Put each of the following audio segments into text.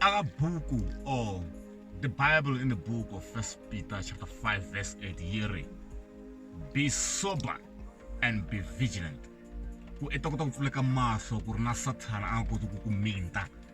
akabuku or the bible in the book of first peter chapter 5 verse 8 yiri be sober and be vigilant ku i ta kota ku pfuleka mahlo ku ri na sathana a nga koti ku ku minta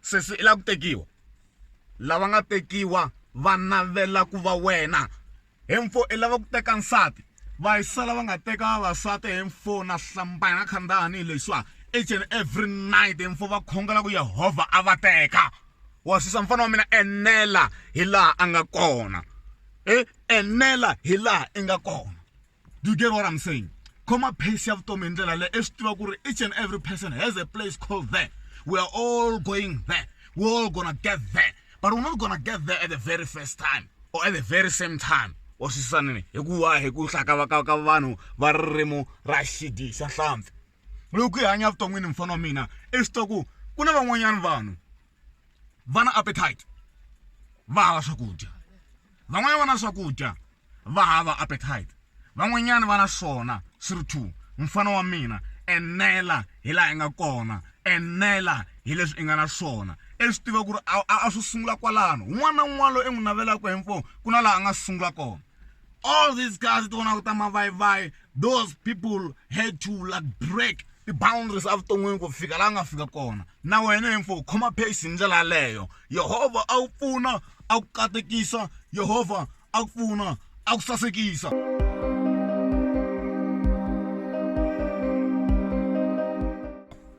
sesi i la ku tekiwa lava nga tekiwa va navela ku va wena he mfo i lava ku teka nsati va yi sala va nga teka vavasati he mfo na hlambaya na khandani leswiwa each and every night he mfo va khongela ku yehovha a va teka wa susa mfana wa mina enela hi laha a nga kona e enela hi laha i nga kona do you get what i'm saying khoma pace ya vutomi hi ndlela leyi i swi tiva ku ri each and every person has a place called there we are all going there we're all gonna get there but we're not gonna get there at the very first time or at the very same time wa swisisanini hikuva hi ku hlakavaka ka vanhu va ririmi ra xidi xa hlampfi loko hi hanya vuton'wini mufana wa mina i swi tiva ku ku na van'wanyana vanhu va na appetite va hava swakudya van'wanyana va na swakudya va hava appetite van'wanyana va na swona swi ri two mfana wa mina enela hi laha i nga kona enela hi leswi i nga na swona i swi tiva ku ri a swi sungula kwalano un'wana na un'wana loyi i n'wi navelaka hi mfo ku na laha a nga sungula kona all these guys ti vonaka ta mavayivayi those people had to like break ti-boundaries evuton'wini ku fika laha nga fika kona na wena hi mfo khoma pace hi ndlela yaleyo yehovha a wu pfuna a ku katekisa yehovha a ku pfuna a ku sasekisa